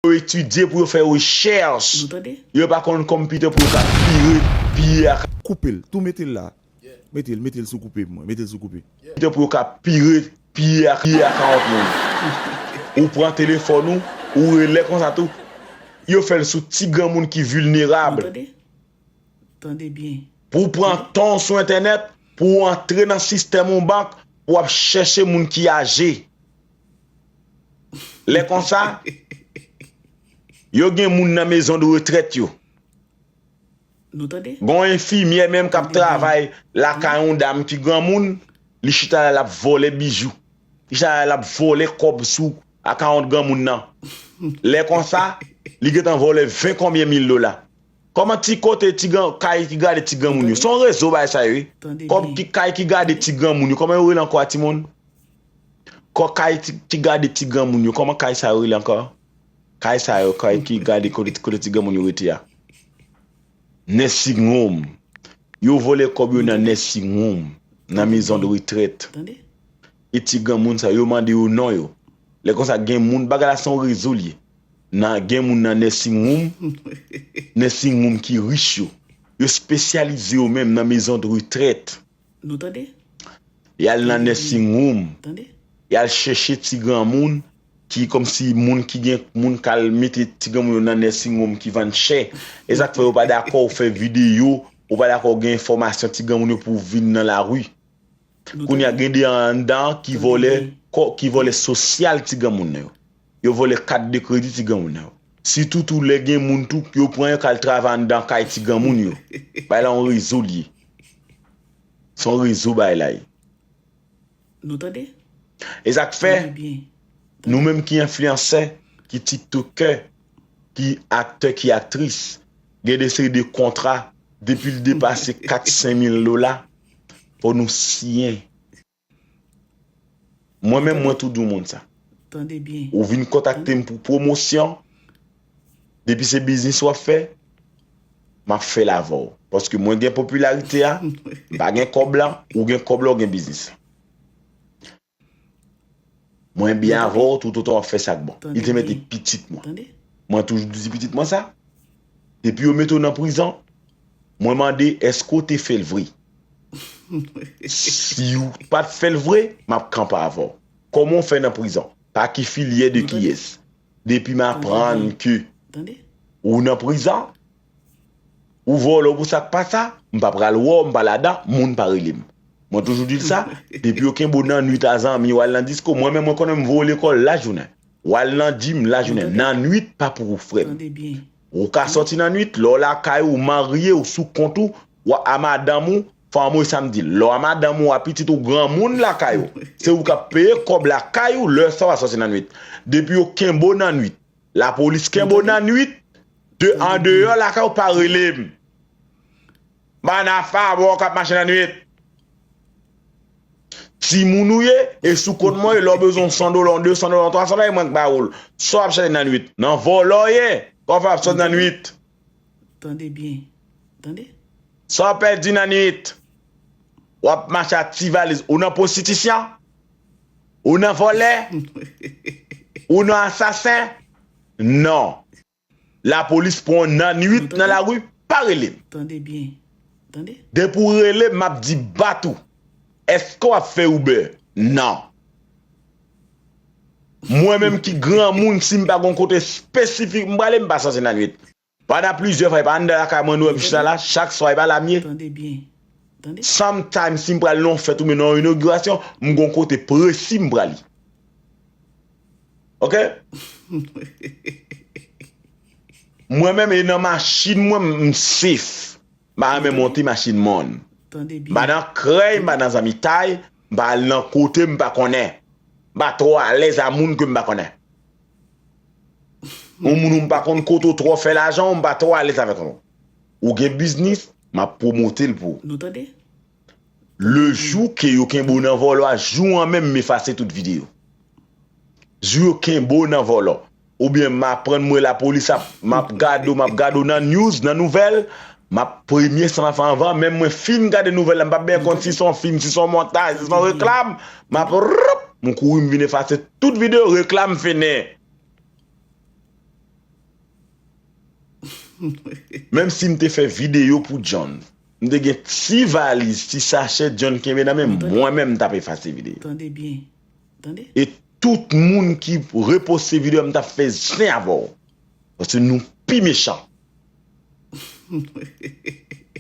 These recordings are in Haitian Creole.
yo etidye pou yo fè rechèch yo pa konn computer pou yo ka vire piye ak Koupel tou metel la metel metel sou koupe mwen metel sou koupe. Computer pou yo ka vire piye ak piye ak yon lòt moun ou pran telefòn ou ou rele konsa tou yo fèl sou ti granmoun ki vulnerable pou ou pran tanw sou entènèt pou ou antre nan sistèm yon bank pou wap chèche moun ki aje. Lè konsa, yo gen moun nan mezon de retrèt yo. Gon enfimyè menm k ap travay lakay yon dam ki granmoun, li chita la l ap vòlè bijou. Li chita la l ap vòlè kòb sou akawont granmoun nan. Lè konsa, li gen tan vòlè ven konbyen mil dola. Kòman ti kote, ti kay ki gade ti granmoun yo? Se yon rezo bagay sa ye wi. Kay ki gade ti granmoun yo, kòman yo rele ankò a timoun? Kò kay ki gade ti granmoun yo kòman kay sa yo rele ankò kay sa yo kay ki gade kote ti granmoun yo rete a nursing home yo vòlè kòb yo nan nursing home nan maison de retraite e ti granmoun sa yo mande yo non yo lè konsa gen moun bagay la se yon rezo li ye nan gen moun nan nursing home nursing home ki rich yo yo spesyalize yo menm nan maison de retraite. Nou tande? Y'al nan nursing room, y'al chèche ti granmoun ki kòmsi moun ki gen moun k'al mete ti granmoun yo nan nursing room ki vann chè. E sa k' fè yo pa dakò ou fè videyo, ou pa dakò ou gen enfòmasyon ti granmoun yo pou ou vin nan lari. Kounye a gen de anndan ki vòlè ki vòlè sosyal ti granmoun yo. Yo vòlè kat de kredi ti granmoun yo. Sitou tou lè gen moun tou yo pran yo kal travay anndan kay ti granmoun yo. Bay la yon rezo liye. Se yon rezo bay la ye. Nou tande? E sak fè nou menm ki enfliyansè, ki tiktokè, ki aktè, ki aktris, gen de seri de kontra depil depase 4 5000 dola fò nou siyen. Mwen menm mwen tou di w moun sa. Ou vin kontakte m pou pwomosyon, depi se biznis w ap fè, m ap fè l avè w. Paske mwen gen popilarite a, m pa gen kòb la, ou gen kòb la ou gen biznis la. Mwen byen avè w toutotan w ap fè sa k bon. Li te mete pitit mwen. Mwen toujou di pitit mwen sa. Depi yo mete w nan prizon, mwen mande èske w te fè l vre? Si w pa t fè l vre, m ap kanpe avè w. Kòman w fè nan prizon? Pa ki filyè de kiyès? Depi m aprann ke w nan prizon, Ou vòlò pou sak pa sa, m pa pral wè w, m pa ladan, moun pa rele m. Mwen toujou di l sa, depi yo kenbe w nan nwit a zanmi w al nan disko, mwen menm mwen konnen m voye w lekòl lajounen. W al nan jim lajounen, nan nwit pa pou ou frè m. Ou ka sòti nan nwit, lè w lakay ou, w marye, w sou kont ou, w a madanm ou, fanm ou e sa m di l. Lè w a madanm ou, w a pitit ou, granmoun lakay ou, se ou k ap peye kòb lakay ou lè sa w a sòti nan nwit. Depi yo kenbe w nan nwit. Lapolis kenb w nan nwit, de an deyò lakay w pa rele m. Bann a favò kap mache nan nwit. Timoun ou ye, e sou kont mwen, lè w bezwen yon 100 dola, yon 200 dola, yon 300 dola, mwen k ba ou l. Sa w ap chache nan nwit? Nan vòlò w ye? Sa w fè ap sot nan nwit? Tande byen. Tande. Sa w pèdi nan nwit? Wap mache ak ti valiz. Ou nan pwostitisyon? Ou nan vòlè? Ou nan asasen? Non. Lapolis pran w nan nwit nan lari, pa rele m. Tande byen. Tande. Depi w rele m, m ap di bat ou. Eske w ap fè Uber? Non. Mwen menm ki granmoun si m pa gen yon kote espesifik m prale, m pa sanse nan nwit. Pandan plizyè fwa epa anndan lakay mwen nou wèm chita la chak swa epa la m ye sometimes si m pral nan yon fèt oubyen nan yon inogirasyon m gon kote presi m prale ok mwen menm e nan machin mwen m safe m pa renmen monte machin moun m pa nan krèy m pa nan zanmitay m pa al nan kote m pa konnen m pa twò alèz a moun ke m pa konnen Yon moun ou m pa konn kote ou twò fè lajan ou m pa twò alèz avèk ou. Ou gen biznis, m ap pwomote l pou ou. Nou tande? Le jou ke yo kenbe w nan vòlò a, jou an menm m efase tout vide ou. Jou yo kenbe w nan vòlò. Oubyen m aprann m wè lapolis ap, m ap gade w, m ap gade w nan news, nan nouvèl, Map premye san anfen anvan menm mwen fin gade nouvèl la mpap byen konn si son fim si son montaj si son reklam map rrrpp m kouri m vin efase tout video reklam fini menm sim te fè video pou John m te gen ti valiz ti sachè John kenbe nan menm mwen menm m tap efase video e tout moun ki reposte video a m tap fè zen avèw paske nou pi mechan.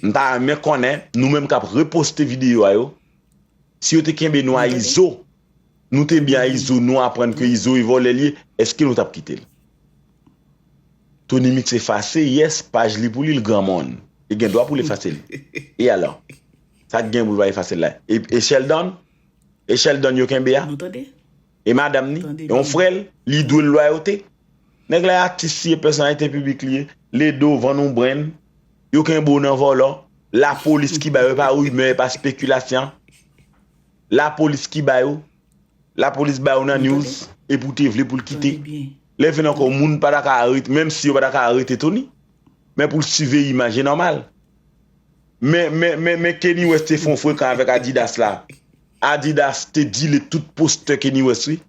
M ta renmen konnen nou menm kap reposte video a yo si yo te kenbe nou a izo nou te byen a izo nou aprann ke izo e vòlè li ye eske nou tap kitel tonymix efase yes paj li pou li l granmon li gen dwa poul efasel e alò sak gen poul pa efasel la e sheldon e sheldon yo kenbe a e madam ni e yon frèl li dwel lwayote. Nèg la atis li ye pèsonalite piblik li ye le do vann yon brenn yo kenbe w nan vòlò la polis ki ba yo e pa rimè e pa spekilasyan la polis ki ba yo la polis ba yo nan news epi w te vle pou l kite lè vin ankò moun pa ta ka arete menm si yo pa ta ka arete Tony men pou l siveye imaj e nòmal men men men men Kenny West te fè yon frekan avèk Adidas la Adidas te dile tout postè Kenny West wi.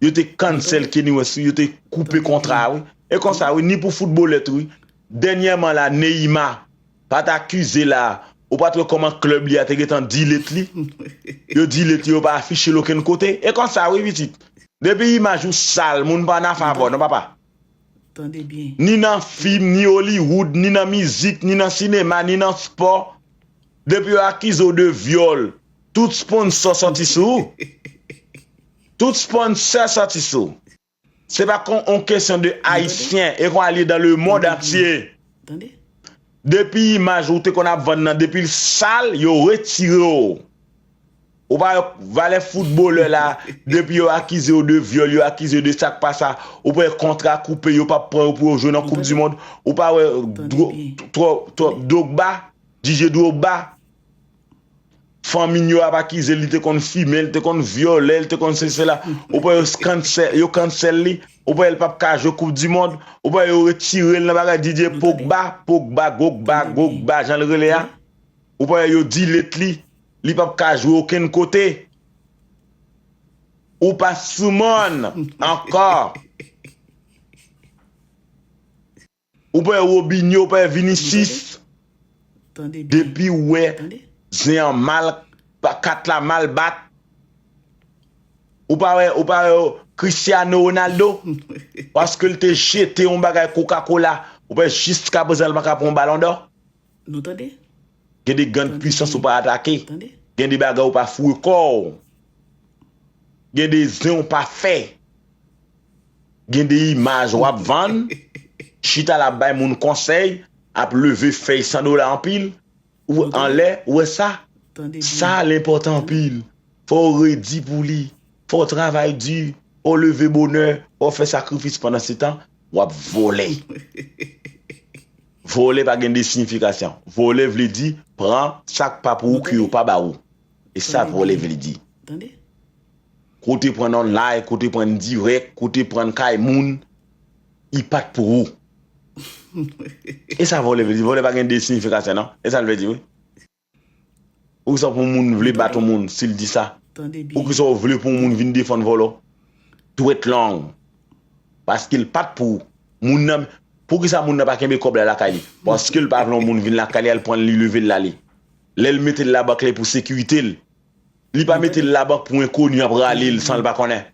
Yo te cancel Kenny West wi, yo te koupe kontra a wi. E konsa wi, ni pou footballeur tou wi. Dènyèman la Neymar pa t akize la, ou pa t wè kòman club li a te gentan delete li. Yo delete li yo pa afiche l okenn kote. E konsa wi pitit. Depi imaj ou sal, moun pa nan favè w non papa. Ni nan fim, ni Hollywood, ni nan mizik, ni nan sinema, ni nan spò. Depi yo akize w de vyòl, tout sponsor sòti sou ou. Tout sponsor soti sou. Se pa kon on kesyon de ayisyen e kon al ye dan le mond antye. Depi imaj ou te konn ap vann nan depi l sal yo retire w. Ou pa wè valè foutbolè la depi yo akize yo de vyòl yo akize yo de sak pa sa ou pa wè kontra koupe yo pap pran yo pou yo jwe nan koup di mond ou pa wè twòp Drogba Didier Drogba Fanmi n yo ap akize l li te konn fimen, li te konn vyole, li te konn sesi sela. Ou pa wè yo cancel li, ou pa wè l pap ka jwe koup di mond, ou pa wè yo retire l nan bagay Didier Pogba, Pogba, Gogba, Gogba jan l rele a. Ou pa wè yo delete li, li pap ka jwe okenn kote. Ou pa sou moun ankò. Ou pè Robinho ou pè Vinicius depiw wè zen an mal kat la mal bat ou pa wè ou pa wè Cristiano Ronaldo paskel te jete yon bagay coca cola ou pè jiska prezan li paka pran yon balon dò gen de gand pwisans ou pa atake gen de bagay ou pa foure kòw gen de zen ou pa fè. gen de imaj wap vann, chita la ap bay moun konsèy, ap leve fèy 100 dola anpil, ou anlè, ou wè sa? Sa a lenpòtan anpil, fò w redi pou li, fò w travay di, fò w leve bonè, fò w fè sakrifis pandan se tan, wap vòlè. Vòlè pa gen de siyifikasyon, vòlè vle di, pran sak pa pou ou ke yo pa ba ou, e sa vòlè vle di. Kote prann online kote prann direct kote prann kay moun i pat pou ou esa vòlè vle di vòlè pa gen 2 signification nan esal vle di wi poukisa pou moun vle bat yon moun sil di sa poukisa ou vle pou yon moun vin defann vòlò dwèt long paskel pat pou ou moun nan poukisa moun nan pa kenbe kòb la lakay li paskel pa vle yon moun vin lakay li al prann li level la li lèl metel la bank li pou sekiritel Li pa mete l la bank pou enkoni ap rale l san l pa konnen.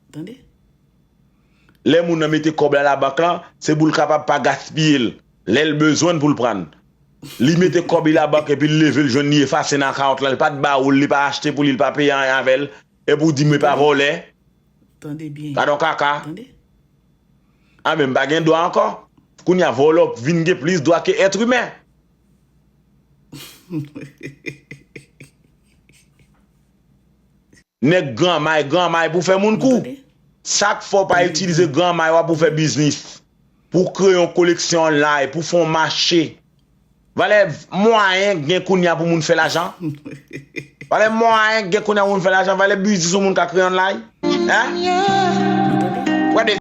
Lè moun nan mete kòb la labank lan, se pou l kapab pa gaspiye l lè l bezwen l pou l pran l. Li mete kòb li labank epi l leve l jwenn li efase nan akawont lan, l pa t ba ou l, li pa achte pou li, li pa peye anyen avè l, epi w di mwen pa vòlè? Gadon kaka! Anben m pa gen dwa ankò? Kounye a vòlè w vin gen plis dwa ke ètrimen! Nèg gran may gran may pou fè moun kou Sak fè w pa itilize gran may wa pou fè biznis pou w kreye yon koleksyon online pou w fè yon mache Valè mwayen k gen kounya pou moun fè lajan Valè mwayen k gen kounya pou moun fè lajan Valè biznis yon moun ka kreye online Hein Ou tande.